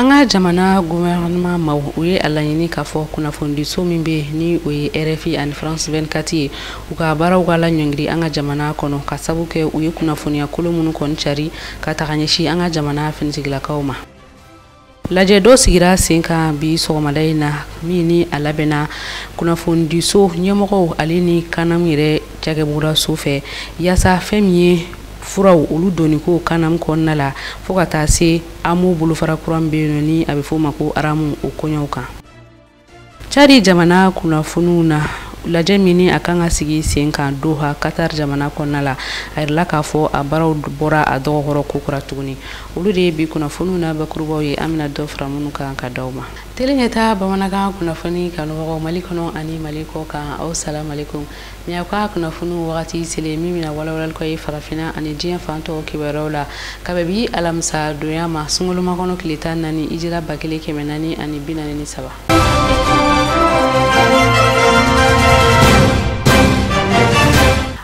an ka jamana gouvernement maaw u ye a laɲini k'a fɔ kunnafonidiso min bɛ yen ni o ye rfi ani france 24 ye u ka baaraw ka laɲɔngiri an ka jamana kɔnɔ ka sabu kɛ u ye kunnafoniya kolon minnu kɔni cari ka taga ɲɛsin an ka jamana finitigilakaw ma lajɛ dɔ sigira sen kan bi sɔgɔmada in na min ni a labɛnna kunnafonidiso ɲɛmɔgɔw ale ni kanam yɛrɛ cakɛbugudaso fɛ yaasa fɛn min ye furaw olu donni ko kanam kɔnɔna la fo ka taa se amo bolofara kura min bɛ yen nɔ ni a bɛ f'o ma ko aramu o koɲɛw kan cadi jamana kunnafoniw na lajɛ min ni a kan ka sigi sen kan doha katar jamana kɔnɔna la a yirala k'a fɔ a baaraw bɔra a dɔgɔkɔrɔ kokura tuguni olu de ye bi kunnafoniw na bakurubaw ye an bɛna dɔ fara minnu kan ka d'aw ma teleɲɛta bamanankan kunnafoni kanubagaw mali kɔnɔ ani mali kɔ kan aw salamalekum Nin y'aw ka kunnafoniw wagati selen ye min bɛna walawalali k'aw ye farafinna ani diɲɛ fan tɔw kibaruyaw la ka bɛn bi alamisa donya ma sunkalomakɔnɔ tile tan naani ijira ba kelen kɛmɛ naani ani bi naani ni saba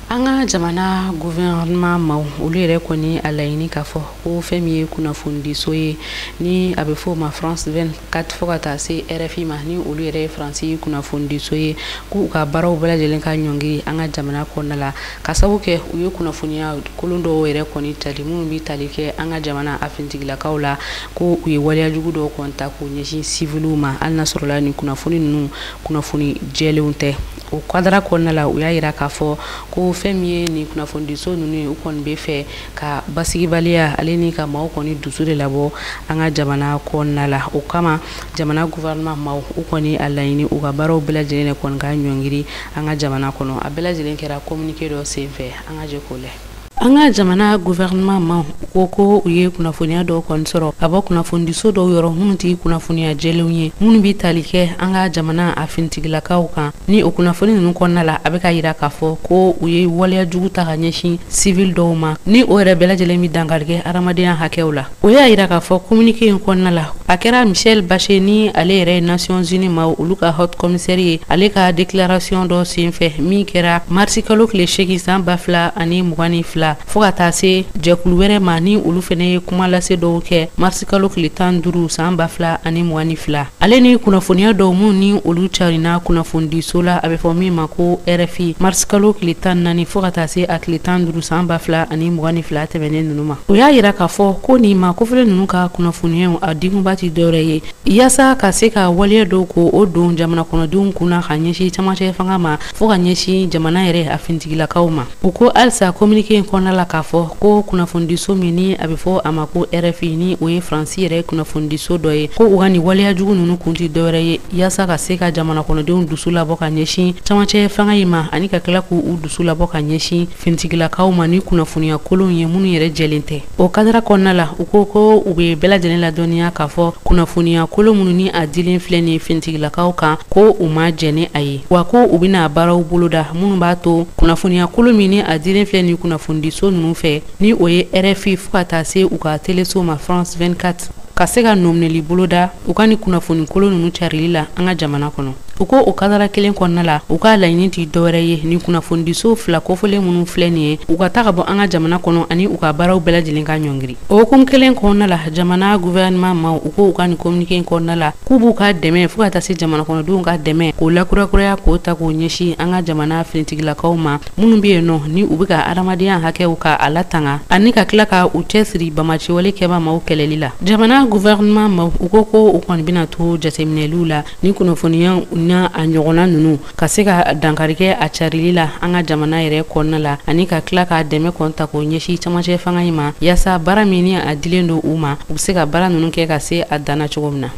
an ka jamana gouvernement maaw olu yɛrɛ kɔni a laɲini k'a fɔ ko fɛn min ye kunnafonidiso ye ni a bɛ fɔ o ma france 24 fo ka taa se rfi ma ni olu yɛrɛ ye faransi kunnafonidiso ye k'u ka baaraw bɛɛ lajɛlen ka ɲɔngiri an ka jamana kɔnɔna la ka sabu kɛ u ye kunnafoniya kolon dɔw yɛrɛ kɔni cari minnu bɛ tali kɛ an ka jamana a finitigilakaw la ko u ye waleya jugu dɔw kɔni ta k'u ɲɛsin siviliw ma hali n'a sɔrɔla nin kunnafoni ninnu kunnafoni jɛlenw tɛ o kadara kɔnɔna la u y'a jira k'a fɔ ko fɛn min ye nin kunnafonidiso ninnu ye u kɔni bɛ fɛ ka basigibaliya ale ni ka maaw kɔni dusu de labɔ an ka jamana kɔnɔna la o kama jamana gouvernement maaw u kɔni a laɲini u ka baaraw bɛɛ lajɛlen de kɔni ka ɲɔngiri an ka jamana kɔnɔ a bɛɛ lajɛlen kɛra communiqué dɔ senfɛ an ka jɛ k'o lajɛ an ka jamana gouvernement maaw ko ko u ye kunnafoniya dɔw kɔni sɔrɔ ka bɔ kunnafonidiso dɔw yɔrɔ minnu tɛ kunnafoniya jɛlenw ye minnu bɛ tali kɛ an ka jamana a finitigilakaw kan ni o kunnafoni ninnu kɔnɔna la a bɛ k'a jira k'a fɔ ko u ye waleya jugu ta ka ɲɛsin sivili dɔw ma ni o yɛrɛ bɛɛ lajɛlen bɛ dankari kɛ adamadenya hakɛw la o y'a jira k'a fɔ kominike in kɔnɔna la a kɛra michelle bachelet ni ale yɛrɛ ye nasiyɔnzini maaw olu ka hot kɔmisɛri ye ale ka deklarasiyɔn dɔ senfɛ min kɛra marisikalo tile seegin san ba fila ani mugan ni fila fɔɔ ka taa se jɛkulu wɛrɛ ma ni olu fana ye kuma lase dɔw kɛ kalo tile tan duuru san ba fila ani mugan ni fila ale ni kunnafoniya dɔw minnu ni olu carina kunnafonidiso la a bɛ fɔ min ma ko rfi marisikalo tile tan naani fɔɔ ka taa se a tile tan duuru san ba fila ani mugan ni fila tɛmɛnen ninnu ma o y'a yira k'a fɔ ko nin maa kofɔlen ninnu ka kunnafoniyaw a dikunba tɛ dɔwɛrɛ ye yaasa ka se ka waleya dɔw ko o don jamana kɔnɔdenw kun na ka ɲɛsin cɛmancɛ fanga ma fɔɔ ka ɲɛsin jamana yɛrɛ a finitigilakaw ma U ko halisa kominike in kɔnɔna la k'a fɔ ko kunnafonidiso min ni a bɛ fɔ a ma ko rfi ni o ye faransi yɛrɛ kunnafonidiso dɔ ye ko u ka nin waleya jugu ninnu kun tɛ dɔwɛrɛ ye yaasa ka se ka jamana kɔnɔdenw dusu labɔ ka ɲɛsin camancɛ fanga in ma ani ka tila k' u dusu labɔ ka ɲɛsin finitigilakaw ma ni kunnafoniya kolonw ye minnu yɛrɛ jɛlen tɛ O kadara kɔnɔna la u ko ko u bɛ bɛɛ lajɛlen ladɔnya k'a fɔ kunnafoniya kolon minnu ni a dilen filɛ nin finitigilakaw kan ko u ma jɛn ni a ye wa ko u bɛna baaraw boloda minnu b'a to kunnafoniya kolon min ni a dilen filɛ nin kunnafonidiso ninnu fɛ ni o ye rfi fo ka taa se u ka teleso ma france 24 ka se ka nɔminɛli boloda u ka nin kunnafoni kolon ninnu carili la an ka jamana kɔnɔ u ko o kadara kelen kɔnɔna la u ka laɲini tɛ dɔwɛrɛ ye ni kunnafonidiso fila kofɔlen minnu filɛ nin ye u ka ta ka bɔ an ka jamana kɔnɔ ani u ka baaraw bɛɛ lajɛlen ka ɲɔngiri o hukumu kelen kɔnɔna la jamana gouvernement maw u ko u ka nin communiqué kɔnɔna la k'u b'u ka dɛmɛ fo ka taa se jamana kɔnɔdenw ka dɛmɛ k'o lakurakuraya k'o ta k'o ɲɛsin an ka jamana finitigilakaw ma minnu be yen nɔ ni u be ka adamadenya hakɛw ka a latanga ani ka tila ka u cɛ siri bamaciwale kɛba maw kɛlɛli la jamana guvɛrɛnman maw u ko ko u kɔni bena to jateminɛliw la ni kunnafoniya na a ɲɔgɔnna nunu ka se ka dankari kɛ a carili la an ka jamana yɛrɛ kɔnɔna la ani ka tila ka dɛmɛ kɔn ta k'o ɲɛsi camacɛ fanga in ma yaasa baara min ni a dilen don u ma u be se ka baara nunu kɛ ka se a dan na cogo min na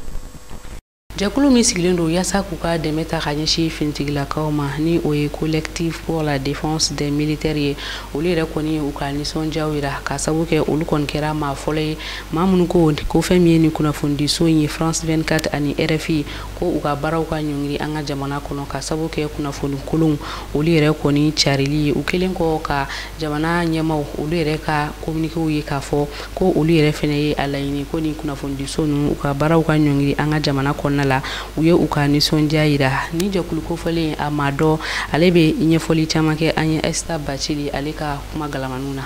jɛkulu min sigilen don yaasa k'u ka dɛmɛ ta ka ɲɛsin finitigilakaw ma ni o ye collectif pour la défense des militaires ye olu yɛrɛ kɔni u ka nisɔndiyaw yira ka sabu kɛ olu kɔni kɛra maa fɔlɔ ye maa minnu ko ko fɛn min ye nin kunnafonidiso in ye france 24 ani rfi ko u ka baaraw ka ɲɔngiri an ka jamana kɔnɔ ka sabu kɛ kunnafoni kolonw olu yɛrɛ kɔni carili ye u kelen kɔ ka jamana ɲɛmaw olu yɛrɛ ka kominikew ye k'a fɔ ko olu yɛrɛ fɛnɛ ye a laɲini ko nin kunnafonidiso ninnu u ka baaraw ka ɲɔngiri an ka jamana kɔnɔna la u ye u ka nisɔndiya yira nin jɛkulu kofɔlen a maa dɔ ale bɛ ɲɛfɔli caman kɛ an ye ɛsita bacili ale ka kuma galamaniw na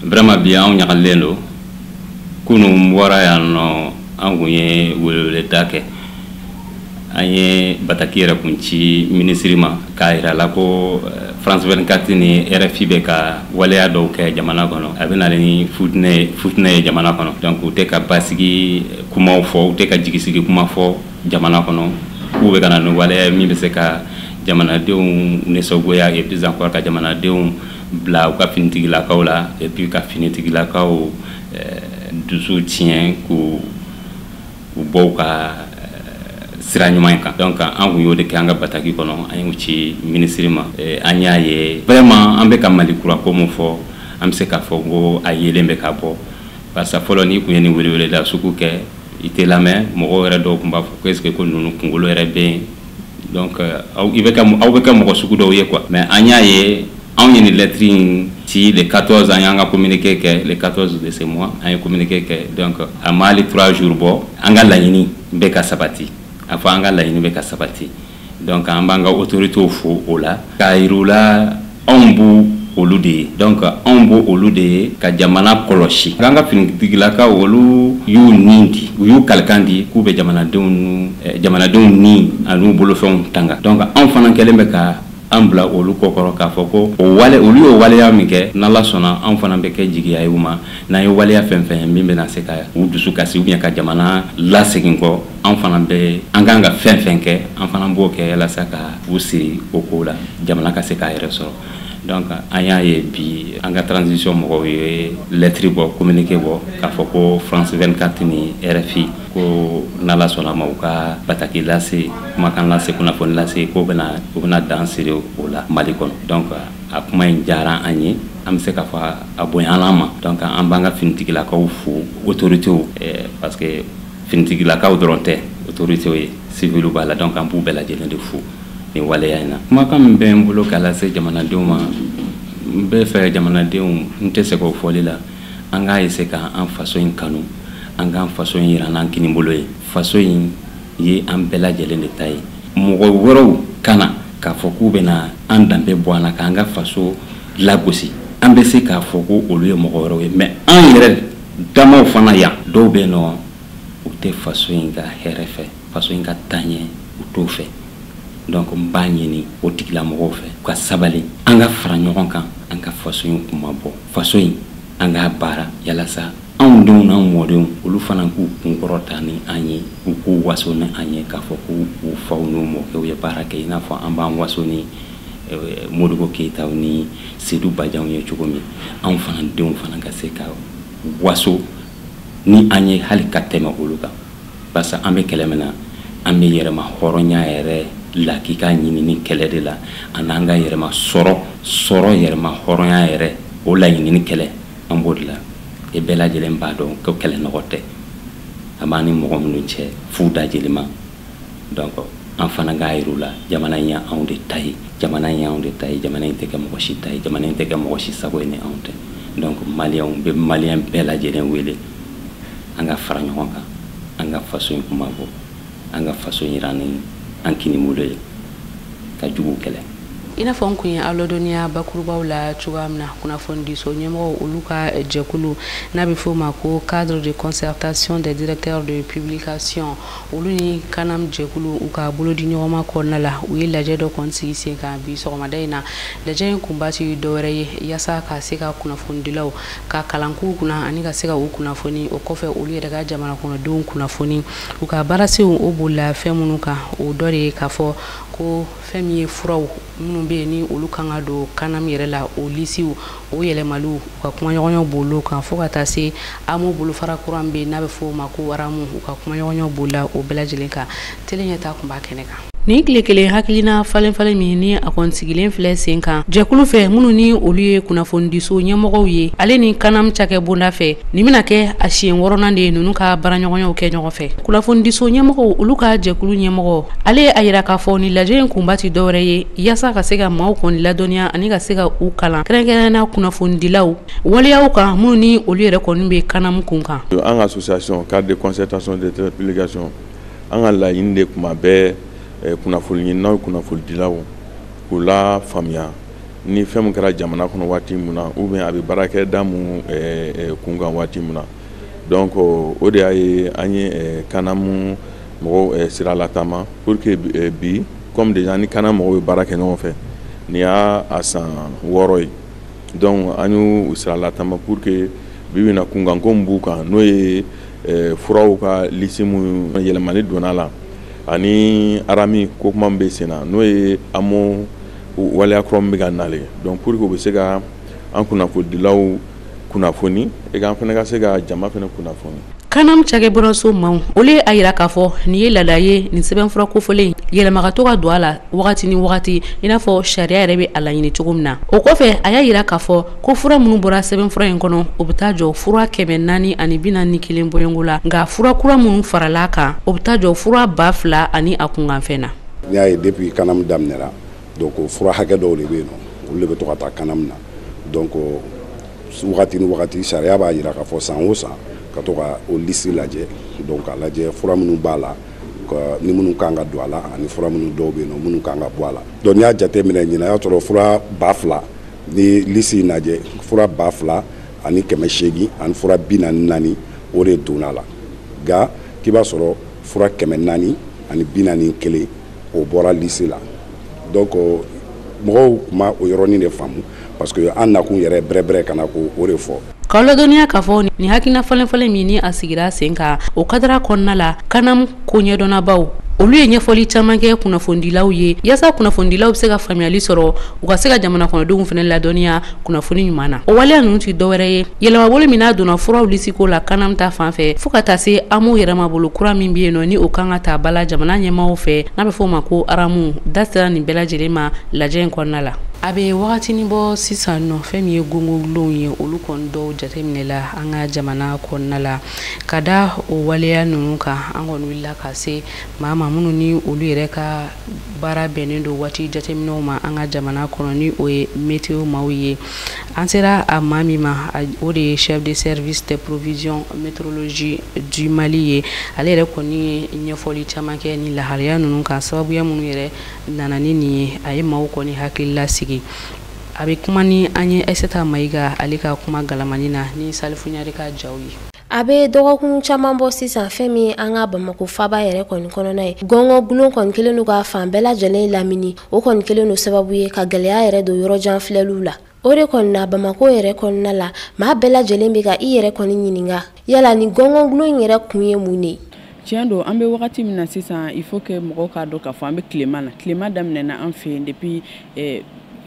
vraiment bi anw ɲagalen don kunun bɔra yan nɔ an kun ye weleweleda kɛ an ye bataki yɛrɛ kun ci minisiri ma k'a yira la ko eh, france 24 ni rfi bɛ ka waleya dɔw kɛ jamana kɔnɔ a bɛ na ni futinɛ ye jamana kɔnɔ donc u tɛ ka basigi kumaw fɔ u tɛ ka jigisigi kuma fɔ jamana kɔnɔ k'u bɛ ka na ni waleya min bɛ se ka jamanadenw nisɔngoya et puis encore ka jamanadenw bila u ka finitigilakaw la et puis ka finitigilakaw eh, dusu tiɲɛ k'u u bɔ u ka sira ɲuman in kan donc an kun y'o de kɛ an ka bataki kɔnɔ an y'u ci minisiri ma an y'a ye vraiment an bɛ ka mali kura ko min fɔ an bɛ se k'a fɔ ko a yeelen bɛ ka bɔ parce que fɔlɔ n'i kun ye nin weleweleda sugu kɛ i tɛ lamɛn mɔgɔw yɛrɛ dɔw tun b'a fɔ ko est ce que ko ninnu kunkolo yɛrɛ bɛ yen donc euh, aw i bɛ kɛ aw bɛ kɛ mɔgɔ sugu dɔw ye quoi mais an y'a ye anw ye nin lettre in ci le 14 an y'an ka communiqué kɛ le 14 de ce mois an ye communiqué kɛ donc a ma hali 3 jours bɔ an ka laɲini bɛ ka sabati a fɔ an ka laɲini bɛ ka sabati donc an b'an ka autorités fo o la k'a yir'u la anw b'u olu de ye donc anw b'o olu de ye ka jamana kɔlɔsi an ka finitigilakaw olu y'u ni di u y'u kalikan di k'u bɛ jamanadenw eh, jamanadenw ni an'u bolofɛnw tanga donc anw fana kɛlen bɛ ka an bila olu kɔkɔrɔ k'a fɔ ko o wale olu y'o waleya min kɛ n'ala sɔnna anw fana bɛ kɛ jigiya ye u ma n'an ye waleya fɛn fɛn ye min bɛna se ka u dusu kasi ou bien ka jamana lasegin kɔ an fana bɛ an kan ka fɛn fɛn kɛ an fana b'o kɛ yalasa ka u siri o ko la jamana ka se k'a yɛrɛ sɔrɔ donc an y'a ye bi an ka transition mɔgɔw ye lɛtiri bɔ communiqué bɔ k'a fɔ ko france 24 ni rfi ko n'ala sɔnna ma u ka bataki lase kumakan lase kunnafoni lase ko bɛna u bɛna dan sigi o la mali kɔnɔ donc a kuma in diyara an ye an bɛ se k'a fɔ a bonyala an ma donc an b'an ka finitigilakaw fo autorités eh, parce que finitigilakaw dɔrɔn tɛ autorités ye civils b'a la donc an b'u bɛɛ lajɛlen de fo nin waleya in na kumakan min bɛ n bolo k'a lase jamanadenw ma n bɛ fɛ jamanadenw n tɛ sɛgɛn o fɔli la an k'a essayer ka an faso in kanu an k'an faso in yira n'an kini bolo ye faso in ye an bɛɛ lajɛlen de ta ye mɔgɔ wɛrɛw ka na k'a fɔ k'u bɛna an danbe bɔ an na k'an ka faso lagosi an bɛ se k'a fɔ ko olu ye mɔgɔ wɛrɛw ye mais an yɛrɛ Damaw fana yan dɔw bɛ nɔ u tɛ faso in ka hɛrɛ fɛ faso in ka taɲɛ u t'o fɛ donc n b'a ɲini o tigilamɔgɔw fɛ u ka sabali an ka fara ɲɔgɔn kan an ka faso in kunmabɔ faso in an k'a baara yalasa anw denw n'an mɔdenw olu fana k'u kunkɔrɔta ni an ye u k'u waso ni an ye k'a fɔ ko u faw n'u mɔkɛw ye baara kɛ i n'a fɔ an b'an waso ni eh, modibo keyitaw ni sedu bajanw ye cogo min anw fana denw fana ka se ka waso ni an ye hali ka tɛmɛ olu kan parce que an bɛ kɛlɛ min na an bɛ yɛrɛma hɔrɔnya yɛrɛ lakika ɲinini kɛlɛ de la an'an ka yɛrɛma sɔrɔ sɔrɔ yɛrɛma hɔrɔnya yɛrɛ o laɲinini kɛlɛ an b'o de la e bɛɛ lajɛlen b'a dɔn ko kɛlɛ nɔgɔ tɛ a b'an ni mɔgɔ minnu cɛ fo da jelima donc an fana k'a yir'u la jamana in y'anw de ta ye jamana in y'anw de ta ye jamana in tɛ kɛ mɔgɔ si ta ye jamana in tɛ kɛ mɔgɔ si sago ye ni anw tɛ donc maliyɛnw bɛ maliyɛn bɛɛ lajɛlen wele an ka fara ɲɔgɔn kan an ka faso in kunmabɔ an ka faso in yira ni an kinibolo ye ka juguw kɛlɛ i n'a fɔ n kun ye aw ladɔnniya bakurubaw la cogoya min na kunnafonidiso ɲɛmɔgɔw olu ka jɛkulu n'a bɛ f'o ma ko cadre de concertation des directeurs de publication olu ni kanam jɛkulu u ka bolodi ɲɔgɔnma kɔnɔna la u ye lajɛ dɔ kɔni sigi sen kan bi sɔgɔmada in na lajɛ in kunba tɛ dɔwɛrɛ ye yaasa ka se ka kunnafonidilaw ka kalankow kunna ani ka se ka u kunnafoni o kɔfɛ olu yɛrɛ ka jamana kɔnɔdenw kunnafoni u ka baarasenw o bolila fɛn minnu kan o dɔ de ye k'a fɔ ko fɛn min ye furaw minnu bɛ yen ni olu kan ka don kanam yɛrɛ la o lisiw o yɛlɛmaliw u ka kumaɲɔgɔnyaw b'olu kan fo ka taa se amu bolofara kura min bɛ yen n'a bɛ fɔ o ma ko aramu u ka kumaɲɔgɔnyaw b'o la o bɛɛ lajɛlen kan tele ɲɛtaa kun b'a kɛnɛ kan nin tile kelen hakilina falenfalen min ni a kɔni sigilen filɛ sen kan jɛkulu fɛ minnu ni olu ye kunnafonidiso ɲɛmɔgɔw ye ale ni kanam cakɛ bonda fɛ nin bɛna kɛ a siɲɛ wɔɔrɔnan de ye ninnu ka baaraɲɔgɔnyaw kɛ ɲɔgɔn fɛ Kunnafonidiso ɲɛmɔgɔw olu ka jɛkulu ɲɛmɔgɔ ale ye a jira k'a fɔ nin lajɛ in kunba ti dɔwɛrɛ ye yaasa ka se ka maaw kɔni ladɔnniya ani ka se ka u kalan kɛrɛnkɛrɛnna kunnafonidilaw waleyaw kan minnu ni olu yɛrɛ kɔni bɛ kanam kunkan an ka association cadre de concertation des directeurs de publication an ka laɲini de tuma bɛɛ kunnafoni ɲininaw kunnafonidilaw k'u lafaamuya ni fɛn min kɛra jamana kɔnɔ waati min na ou bien a bɛ baarakɛda min kunkan waati min na donc o de y'a ye an ye kanam mɔgɔw sira lataama pour que bi comme déjà an ni kanam mɔgɔw bɛ baara kɛ ɲɔgɔn fɛ nin y'a san wɔɔrɔ ye donc an y'u sira lataama pour que bi bɛna kunkanko min b'u kan n'o ye furaw ka lisi min yɛlɛmani donna a la ani arami ko kuma bɛ sen na n'o ye amu waleya kura min bɛ ka na de donc pour que u bɛ se ka an kunnafonidilaw kunnafoni et an fana ka se ka jama fana kunnafoni kanam cakɛ bɔraso maaw olu ye a jira k'a fɔ nin ye laada ye nin sɛbɛnfura kofɔlen yɛlɛma ka to ka don a la wagati ni wagati i n'a fɔ sariya yɛrɛ bɛ a laɲini cogo min na o kɔfɛ a y'a jira k'a fɔ ko fura minnu bɔra sɛbɛnfura in kɔnɔ o bɛ taa jɔ fura kɛmɛ naani ani bi naani ni kelen bɔɲɔnko la nka fura kura minnu farala a kan o bɛ taa jɔ fura ba fila ani a kunkanfɛn na donc fura hakɛ dɔw de bɛ yen nɔ olu de bɛ to ka taa kanam na donc wagati ni wagati sariya b'a jira k'a fɔ san o san ka to ka o lisi lajɛ donc k'a lajɛ fura minnu b'a la ni minnu kan ka don a la ani fura minnu dɔw bɛ yen nɔ minnu kan ka bɔ a la donc n'i y'a jateminɛ ɲinan y'a sɔrɔ fura ba fila ni lisi in lajɛ fura ba fila ani kɛmɛ seegin ani fura bi naani ni naani o de donna a la nka k'i b'a sɔrɔ fura kɛmɛ naani ani bi naani ni kelen o bɔra lisi la donc mɔgɔw kun ma o yɔrɔnin de faamu parce que an nakun yɛrɛ bɛrɛbɛrɛ ka na ko o de fɔ k'aw ladɔnniya k'a fɔ nin hakilina falenfalen min ni a sigira sen kan o kadara kɔnɔna la kanam ko ɲɛdɔnnabaw olu ye ɲɛfɔli caman kɛ kunnafonidilaw ye yaasa kunnafonidilaw bɛ se ka faamuyali sɔrɔ u ka se ka jamana kɔnɔdenw fana ladɔnniya kunnafoni ɲuman na o waleya ninnu tɛ dɔwɛrɛ ye yɛlɛmabolo min n'a donna furaw lisiko la CANAM ta fan fɛ fo ka taa se amu yɛlɛmabolo kura min bɛ yen nɔ ni o kan ka ta ba la jamana ɲɛmaaw fɛ n'a bɛ fɔ o ma ko aramu da sera nin bɛɛ lajɛlen ma lajɛ in kɔnɔna la a bɛ wagatini bɔ sisan nɔ fɛn min ye gɔngɔgulonw ye olu kɔni dɔw jateminɛ la an ka jamana kɔnɔna la ka da o waleya ninnu kan an kɔni wulila ka se maa ma minnu ni olu yɛrɛ ka baara bɛnnen don waati jateminɛw ma an ka jamana kɔnɔ ni o ye meteo maaw ye an sera a maa min ma o de ye chef de service de prévision météorologie du Mali ye ale yɛrɛ kɔni ye ɲɛfɔli caman kɛ nin lahalaya ninnu kan sababuya minnu yɛrɛ nana ni nin ye a ye maaw kɔni hakili lasigi a bɛ kuma ni an ye Aissata Mayiga ale ka kuma galamani na ni Salifu Ɲare ka jaw ye A bɛ dɔgɔkun caman bɔ sisan fɛn min an ka bamakɔ faaba yɛrɛ kɔni kɔnɔna ye gɔngɔ gulon kɔni kɛlen don ka fan bɛɛ lajɛlen lamini o kɔni kɛlen don sababu ye ka gɛlɛya yɛrɛ don yɔrɔjan filɛliw la o de kɔni na bamakɔ yɛrɛ kɔnɔna la maa bɛɛ lajɛlen bɛ ka i yɛrɛ kɔni ɲininka yala nin gɔngɔ gulon in yɛrɛ kun ye mun de tiɲɛ don an bɛ wagati min na sisan il faut que mɔgɔw k'a dɔn k'a fɔ an bɛ tilema na tilema daminɛna an fɛ yen depuis eh,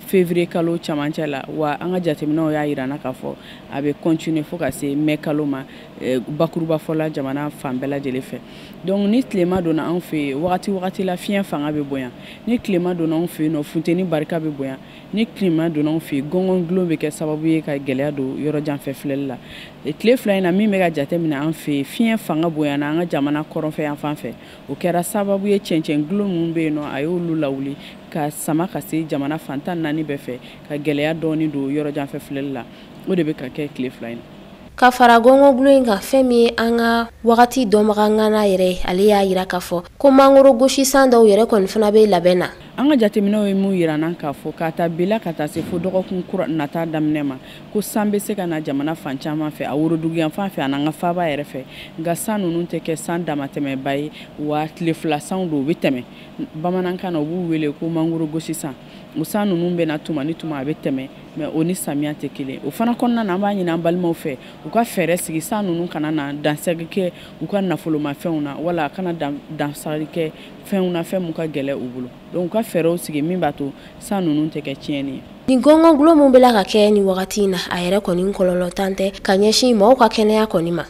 février kalo camancɛ la wa an ka jateminɛw y'a yira an na k'a fɔ a bɛ continuer fo ka se mai kalo ma eh, bakurubafɔ la jamana fan bɛɛ lajɛlen fɛ donc ni tilema donna anw fɛ yen wagati wagati la fiɲɛ fanga bɛ bonya ni tilema donna anw fɛ yen nɔ funteni barika bɛ bonya ni tilema donna anw fɛ yen gɔngɔn gulon bɛ kɛ sababu ye ka gɛlɛya don yɔrɔjanfɛ filɛli la eh, tile fila in na min bɛ ka jateminɛ an fɛ yen fiɲɛ fanga bonyana an ka jamana kɔrɔnfɛ yan fan fɛ o kɛra sababu ye cɛncɛn gulon minnu bɛ yen nɔ a y'olu lawuli ka sama ka se jamana fan tan ni naani bɛɛ fɛ ka gɛlɛya dɔɔni don yɔrɔjanfɛ filɛli la o de bɛ ka kɛ tile fila in na ka fara gɔngɔgulo in kan fɛn min ye an ka wagati dɔnbaga ŋana yɛrɛ ye ale y'a yira k'a fɔ ko mangoro gosisan dɔw yɛrɛ kɔni fana bɛ labɛn na an ka jateminɛw ye min yira an na k'a fɔ k'a ta bi la ka taa se fo dɔgɔkun kura nata daminɛ ma ko san bɛ se ka na jamana fan caman fɛ a woroduguyanfan fɛ ani an ka faaba yɛrɛ fɛ nka san ninnu tɛ kɛ san damatɛmɛba ye wa tile fila sanw don u bɛ tɛmɛ bamanankan na u b'u wele ko mangoro gosisan o san ninnu bɛ na tuma ni tuma a bɛ tɛmɛ mais o ni samiya tɛ kelen o fana kɔnɔna na an b'a ɲini an balimaw fɛ u ka fɛɛrɛ sigi san ninnu kana na dansagi kɛ u ka nafolomafɛnw na wala a kana dansagi kɛ fɛnw na fɛn min ka gɛlɛn u bolo donc u ka fɛɛrɛw sigi min b'a to san ninnu tɛ kɛ tiɲɛni ye nin gɔngɔn gulo min bɛ la ka kɛ nin wagati in na a yɛrɛ kɔni kɔlɔlɔntan tɛ ka ɲɛsin mɔgɔw ka kɛnɛya kɔni ma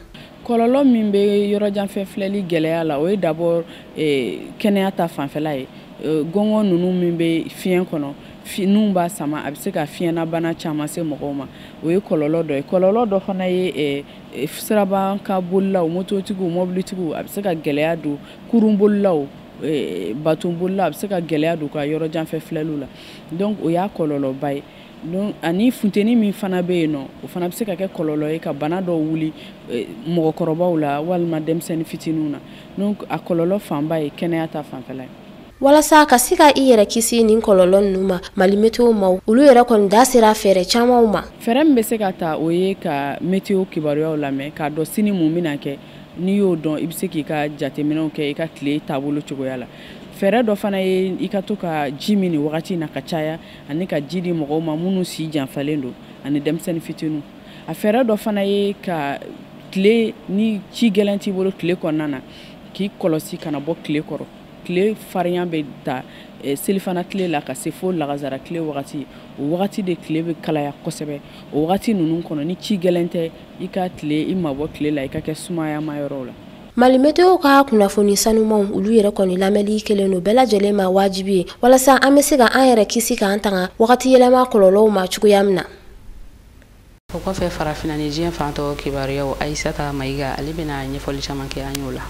kɔlɔlɔ min bɛ yɔrɔjanfɛ filɛli gɛlɛya la o ye d'abord eh, kɛnɛya ta fanfɛla ye euh, gɔngɔn ninnu min bɛ fiɲɛ kɔnɔ n'u b'a sama a bɛ se ka fiɲɛnabana caman se mɔgɔw ma o ye kɔlɔlɔ dɔ ye kɔlɔlɔ dɔ fana ye eh, eh, siraba kan bolilaw mototigiw mɔbilitigiw a bɛ se ka gɛlɛya don kurun bolilaw eh, baton bolilaw a bɛ se ka gɛlɛya don ka yɔrɔ jan fɛ filɛliw la donc o y'a kɔlɔlɔba ye donc ani funteni min fana bɛ yen nɔ o fana bɛ se ka kɛ kɔlɔlɔ ye ka bana dɔw wuli mɔgɔkɔrɔbaw la walima denmisɛnnin fitininw na donc a kɔlɔlɔ fanba ye kɛnɛya ta fanfɛla ye walasa ka se ka i yɛrɛ kisi nin kɔlɔlɔ ninnu ma mali meteo maaw olu yɛrɛ kɔni da sera fɛɛrɛ camanw ma fɛɛrɛ min bɛ se ka ta o ye ka meteo kibaruyaw lamɛn k'a dɔn sini mun bɛna kɛ n'i y'o dɔn i bɛ se k'i ka jateminɛw kɛ i ka tile taabolo cogoya la fɛɛrɛ dɔ fana ye i ka to ka ji min nin wagati na ka caya ani ka ji di mɔgɔw ma minnu si janfalen don ani denmisɛnnin fitiniw a fɛɛrɛ dɔ fana ye ka tile ni ci gɛlɛn t'i bolo tile kɔnɔna na k'i kɔlɔsi kana bɔ tile kɔrɔ tile farinya bɛ ta eh, selifana tile la ka se fo lagazara tile wagati o wagati de tile bɛ kalaya kosɛbɛ o wagati ninnu kɔnɔ ni ci gɛlɛn tɛ i ka tile i mabɔ tile la i ka kɛ sumayama yɔrɔw la mali meteo ka kunnafoni sanumanw olu yɛrɛ kɔni lamɛnli kɛlen don bɛɛ lajɛlen ma wajibi ye walasa an bɛ se ka an yɛrɛ kisi k'an tanga wagati yɛlɛma kɔlɔlɔw ma cogoya min na o kɔfɛ farafina ni diɲɛ fan tɔ kibaruyaw ayisata mayiga ale bɛna ɲɛfɔli caman kɛ an y'o la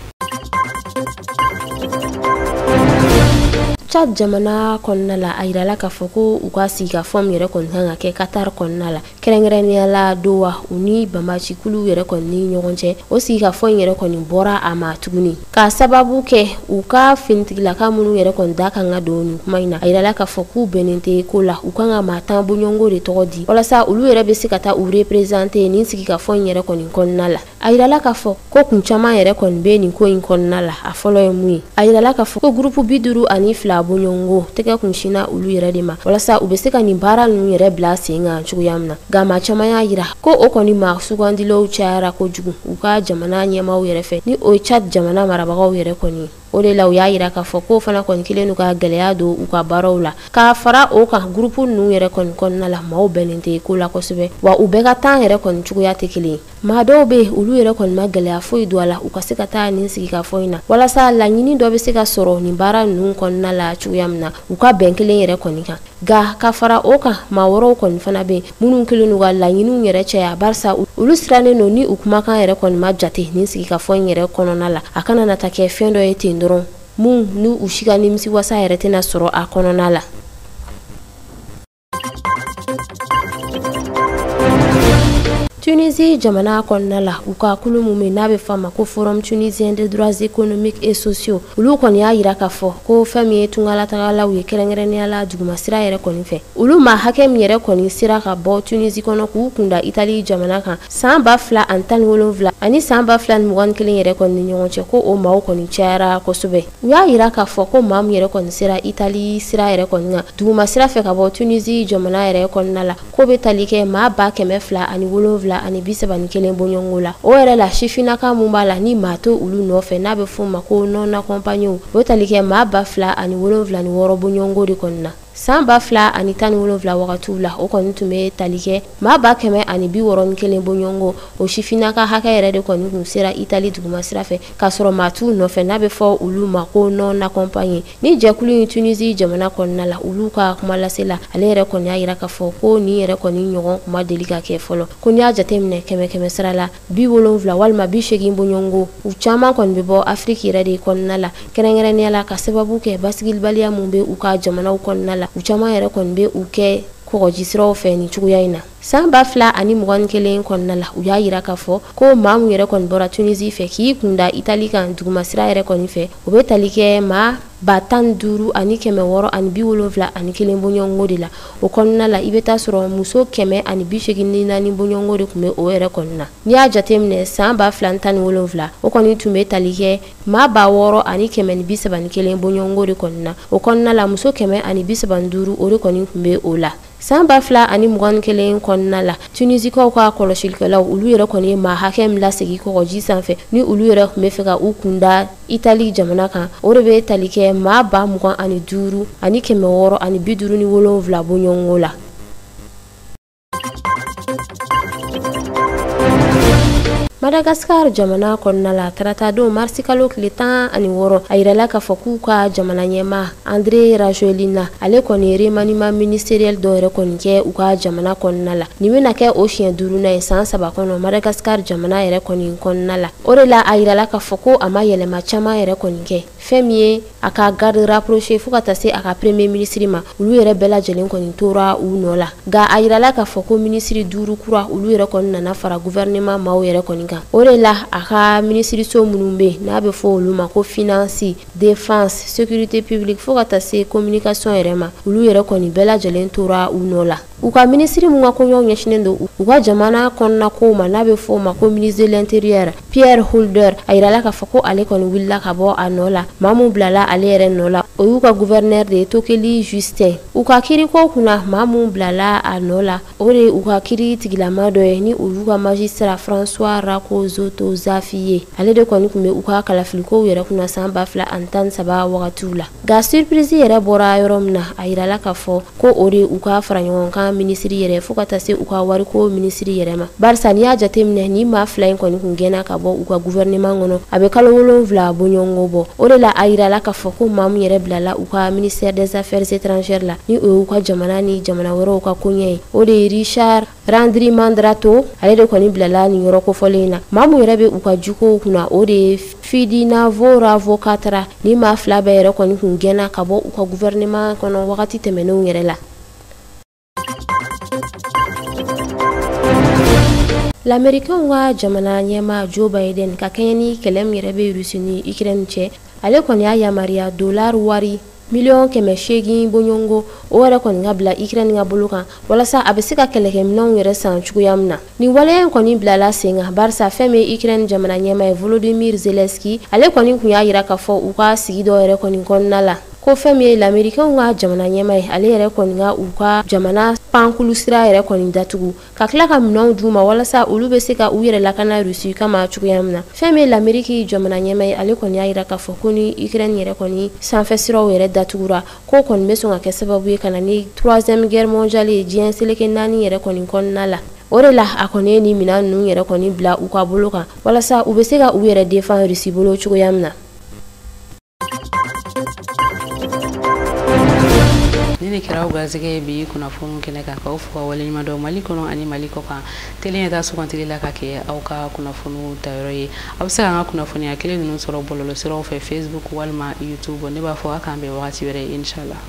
Chad jamana kɔnɔna la a yirala k'a fɔ ko u ka sigikafɔ min yɛrɛ kɔni kan ka kɛ Qatar kɔnɔna la kɛrɛnkɛrɛnnenya la Doha u ni banbacikuluw yɛrɛ kɔni ni ɲɔgɔn cɛ o sigikafɔ in yɛrɛ kɔni bɔra a ma tuguni Ka sababu kɛ u ka finitigilaka minnu yɛrɛ kɔni da kan ka don nin kuma in na a yirala k'a fɔ k'u bɛnnen tɛ ko la u kan ka maa tan bɔɲɔgɔnko de tɔgɔ di walasa olu yɛrɛ bɛ se ka taa u reprezante nin sigikafɔ in yɛrɛ kɔni kɔnɔna la a yirala k'a fɔ ko kun caman yɛrɛ kɔni bɛ nin ko in kɔnɔna la a fɔlɔ ye mun ye a yirala k'a fɔ ko gurupu bi duuru ani fila bɔɲɔgɔnko tɛgɛ kun sinna olu yɛrɛ de ma walasa u bɛ se ka nin baara ninnu yɛrɛ bila sen kan cogoya min na nka maa caman y'a yira ko o kɔni maa sugandilaw cayara kojugu u ka jamana ɲɛmaaw yɛrɛ fɛ ni o ye Tchad jamana marabagaw yɛrɛ kɔni ye o de la u y'a yira k'a fɔ k'o fana kɔni kɛlen don ka gɛlɛya don u ka baaraw la k'a fara o kan gurupu ninnu yɛrɛ kɔni kɔnɔna la maaw bɛnnen tɛ ko la kosɛbɛ wa u bɛɛ ka tan yɛrɛ kɔni cogoya tɛ kelen ye maa dɔw bɛ yen olu yɛrɛ kɔni ma gɛlɛya foyi don a la u ka se ka taa nin sigikafɔ in na walasa laɲini dɔ bɛ se ka sɔrɔ nin baara ninnu kɔnɔna la cogoya min na u ka bɛn kelen yɛrɛ kɔni kan Nka ka fara o kan maa wɛrɛw kɔni fana bɛ minnu kɛlen don ka laɲiniw yɛrɛ caya barisa olu sirannen don ni u kumakan yɛrɛ kɔni ma jate nin sigikafɔ in yɛrɛ kɔnɔna la a kana na taa kɛ fɛn dɔ ye ten dɔrɔn min ni u si ka nimisiwasa yɛrɛ tɛna sɔrɔ a kɔnɔna la tunisi jamana kɔnɔna la u ka kulu min n'a bɛ fɔ a ma ko forum tunisien des droits économiques et sociaux olu kɔni y'a yira k'a fɔ ko fɛn min ye tungalatagalaw ye kɛrɛnkɛrɛnnenya la dugumasira yɛrɛ kɔni fɛ olu maa hakɛ min yɛrɛ kɔni sera ka bɔ tunisi kɔnɔ k'u kunda itali jamana kan san ba fila ani tan ni wolonwula ani san ba fila ni mugan ni kelen yɛrɛ kɔni ni ɲɔgɔn cɛ ko o maaw kɔni cayara kosɛbɛ u y'a yira k'a fɔ ko maa min yɛrɛ kɔni sera itali sira yɛrɛ kɔni kan dugumasira fɛ ka bɔ tunisi jamana yɛrɛ kɔnɔna la k'o bɛ tali kɛ maa ba kɛmɛ fila ani wolonwula ani bi saba ni kelen bɔɲɔgɔnko la o yɛrɛ la sifinaka min b'a la ni maa t'olu nɔfɛ n'a bɛ f'o ma ko non accompagné o tali kɛ maa ba fila ani bi wolonwula ni wɔɔrɔ bɔɲɔgɔnko de kɔni na san ba fila ani tan ni wolonwula wagatiw la o kɔni tun bɛ tali kɛ maa ba kɛmɛ ani bi wɔɔrɔ ni kelen bɔɲɔgɔnko o sifinaka hakɛ yɛrɛ de kɔni tun sera itali duguma sira fɛ k'a sɔrɔ maa t'u nɔfɛ n'a bɛ fɔ olu ma ko non accompagné Nin jɛkulu in Tunisie jamana kɔnɔna la, olu ka kumalasela, ale yɛrɛ kɔni y'a yira k'a fɔ ko nin yɛrɛ kɔni ɲɔgɔn tun ma deli ka kɛ fɔlɔ. Ko n'i y'a jateminɛ kɛmɛ kɛmɛ sira la, bi wolonwula walima bi seegin bɔɲɔgɔnko, u caman kɔni bɛ bɔ Afrique yɛrɛ de kɔnɔna la, kɛrɛnkɛrɛnnenya la ka sababu kɛ basigibaliya min bɛ u ka jamanaw kɔnɔna la, u caman yɛrɛ kɔni bɛ u kɛ kɔgɔjisiraw fɛ nin cogoya in na. San ba fila ani mugan ni kelen kɔnɔna la u y'a yira k'a fɔ ko maa min yɛrɛ kɔni bɔra tunisi fɛ k'i kunda itali kan dugumasira yɛrɛ kɔni fɛ o bɛ tali kɛ maa ba tan duuru ani kɛmɛ wɔɔrɔ ani bi wolonwula ani kelen bɔɲɔgɔnko de la o kɔnɔna la i bɛ t'a sɔrɔ muso kɛmɛ ani bi seegin ni naani bɔɲɔgɔnko de tun bɛ o yɛrɛ kɔnɔna n'i y'a jateminɛ san ba fila ni tan ni wolonwula o kɔni tun bɛ tali kɛ maa ba wɔɔrɔ ani kɛmɛ ni bi saba ni kelen bɔɲɔgɔnko de kɔni na o kɔnɔna la muso kɛmɛ ani bi saba ni duuru o de kɔni tun bɛ o la San ba fila ani mugan ni kelen kɔnɔna la tunisikaw ka kɔlɔsilikɛlaw olu yɛrɛ kɔni ye maa hakɛ min lasegin kɔgɔji sanfɛ ni olu yɛrɛ tun bɛ fɛ ka u kunda itali jamana kan o de bɛ tali kɛ maa ba mugan ani duuru ani kɛmɛ wɔɔrɔ ani bi duuru ni wolonwula bɔɲɔgɔnko la madagasikara jamana kɔnɔna la taratadon marisikalo tile tan ani wɔɔrɔ a yirala k'a fɔ k'u ka jamana ɲɛmaa andre rajoelina ale kɔni ye remaniement ministériel dɔ yɛrɛ kɔni kɛ u ka jamana kɔnɔna la nin bɛna kɛ o siɲɛ duurunan ye san saba kɔnɔ madagasikar jamana yɛrɛ kɔni kɔnɔna la o de la a yirala k'a fɔ ko a ma yɛlɛma caman yɛrɛ kɔni kɛ fɛn min ye a ka garde rapproché fo ka taa se a ka premier minisiri ma olu yɛrɛ bɛɛ lajɛlen kɔni tora u nɔ la nka a yirala k'a fɔ ko minisiri duuru kura olu yɛrɛ kɔni nana fara gouvernement maaw yɛrɛ kɔni kan o de la a ka minisiriso minnu bɛ yen n'a bɛ fɔ olu ma ko finance défense sécurité publique fo ka taa se communication yɛrɛ ma olu yɛrɛ kɔni bɛɛ lajɛlen tora u nɔ la u ka minisiri min ka koɲɛw ɲɛsinnen don u ka jamana kɔnɔna kow ma n'a bɛ fɔ o ma ko ministre de l'intérieur pierre houlder a yirala k'a fɔ ko ale kɔni wulila ka bɔ a nɔ la maa min bilala ale yɛrɛ nɔ la o y'u ka gouverneur de ye tokely justin u ka kiiriko kunna maa min bilala a nɔ la o de u ka kiri tigilama dɔ ye ni olu ka magistrat françois rakozoto zafi ye ale de kɔni kun bɛ u ka kalafilikow yɛrɛ kunna san ba fila ani tan saba wagatiw la nka surprise yɛrɛ bɔra yɔrɔ min na a yirala k'a fɔ ko o de u ka faraɲɔgɔnkan minisiri yɛrɛ fo ka taa se u ka wariko minisiri yɛrɛ ma barisa n'i y'a jateminɛ ni maa fila in kɔni kun gɛnna ka bɔ u ka guvɛrɛneman kɔnɔ a bɛ kalo wolonwula boɲɔgɔnko bɔ o de la a yirala k'a fɔ ko maa min yɛrɛ bilala u ka ministère des affaires étrangères la ni o y'u ka jamana ni jamana wɛrɛw ka koɲɛ ye o de ye richard randriamandrato ale de kɔni bilala nin yɔrɔ kofɔlen in na maa min yɛrɛ bɛ u ka jukow kunna o de ye fidiniavo ravokatra ni maa fila bɛɛ yɛrɛ kɔni kun gɛnna ka bɔ u ka gouvernement kɔnɔ wagati tɛmɛnenw yɛrɛ la lamerikɛnw ka jamana ɲɛmaa joe biden ka kɛɲɛ ni kɛlɛ min yɛrɛ bɛ rusi ni ukraine cɛ ale kɔni y'a yamaruya dolar wari miliyɔn kɛmɛ seegin boɲɔgɔnko o yɛrɛ kɔni ka bila ukraine ka bolo kan walasa a bɛ se ka kɛlɛkɛminɛnw yɛrɛ san cogoya min na nin waleya in kɔni bilala sen kan barisa fɛn min ye ukraine jamana ɲɛmaa ye volodymyr zelensky ale kɔni kun y'a yira k'a fɔ u ka sigi dɔ yɛrɛ kɔni kɔnɔna la ko fɛn min ye lamerikɛnw ka jamana ɲɛmaa ye ale yɛrɛ kɔni ka u ka jamana pankulu sira yɛrɛ kɔni datugu ka tila ka minɛnw d'u ma walasa olu bɛ se ka u yɛrɛ lakana rusi kama cogoya min na fɛn min ye lameriki jamana ɲɛmaa ye ale kɔni y'a yira k'a fɔ ko ni ukraine yɛrɛ kɔni sanfɛ siraw yɛrɛ datugura k'o kɔni bɛ sɔn ka kɛ sababu ye ka na ni troisième guerre mondiale ye diɲɛ seleke naani yɛrɛ kɔni kɔnɔna la o de la a kɔni ye nin minɛn ninnu yɛrɛ kɔni bila u ka bolo kan walasa u bɛ se ka u yɛrɛ defan rusi bolo cogoya min na nin de kɛra aw garisɛgɛ ye bi kunnafoni kɛnɛ kan k'aw fo ka waleɲuman dɔn mali kɔnɔ ani mali kɔkan tele in yɛrɛ ta sugantili la ka kɛ aw ka kunnafoniw tayɔrɔ ye aw bɛ se k'an ka kunnafoniya kelen ninnu sɔrɔ bɔlɔlɔsiraw fɛ facebook walima youtube ne b'a fɔ a k'an bɛn wagati wɛrɛ inshallah